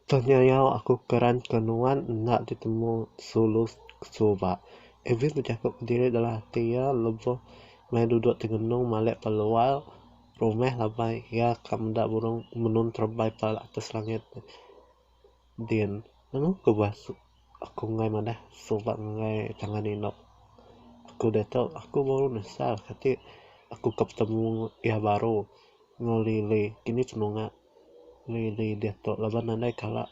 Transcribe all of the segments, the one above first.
Tenyau aku keran ke nuan enda ditemu sulu suba. Alvin bejaku kediri dalam ati iya lebuh maya duduk tengenung malik pelual. rumah labai iya ka meda burung menun terebai pa atas langit din nemu ku buah aku mengah madah suba mengah tangan inu aku diatu aku baru nesal keti aku ka betemu iya baru enggau lili kini ceh nunga. Lily diatu laban nadai kala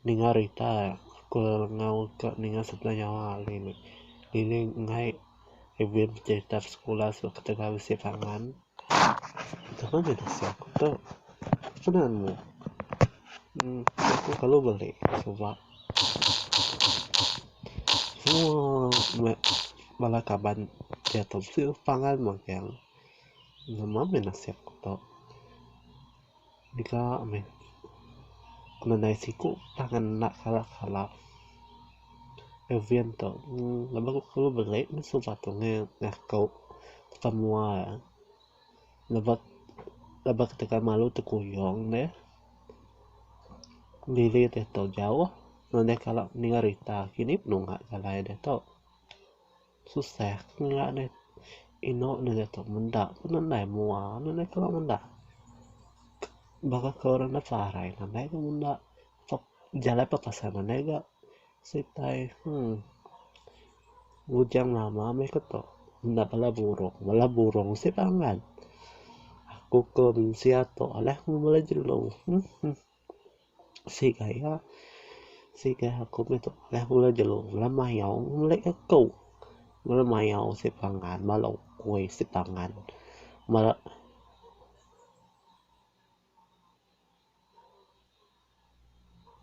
ninga rita ku lengau ka ninga sekula nyawa lily. Lily ngai event pejerita da sekula sebab ketegal bisi pangan. Tebuk ngai bisi aku tu apai naan mu uhh aku kelalu beli suba semua bala kaban diatu bisi pangan magang. Nama meh nasib ku tu. Diga meh ku nadai siku tang enda kala kala. Evian tu laban ku kalu beli meh suba tu ngaku tang mua laban laban ketegal aku malu tekuyung deh. Lili deh tu jauh nadai kala ninga rita kini penungak alai deh tu. Susah ke ngera deh inu ne dia tu menda pun andai mua ne deh kalo menda baka kalo orang enda parai andai ke menda tau jalai pa pasan andai ga sitai hmm bujang lama meh ke tu enda bala burung bala burung sik pangan aku ke mensia tu alai meh bala jelu. Sik gaya sik gaya aku meh tu leh mula jelu mula mayau melek ka ku mula mayau sik pangan bala ukoi sik pangan bala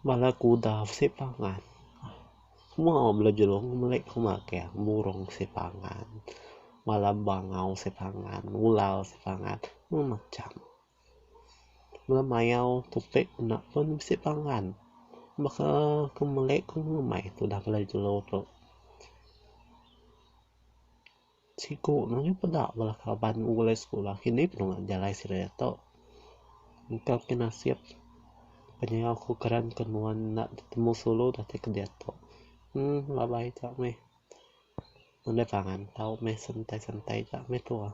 bala kudau sik pangan semua bala jelung melek ku magang burung sik pangan bala bangau sik pangan ular sik pangan semua macam. Meh mayau topik enda pun bisi pangan beh ke aku melei ku ngemei tudah bala jelu tu. Siku ne nyau peda bala kaban ku ulih sekula kini pun deh jalai sida tu. Engka ke nasib penyiau ku keran ke nuan enda betemu sulu dah ti ke diatu. Uhh labai ka meh nadai pangan tau meh sentai-sentai ka meh tuah.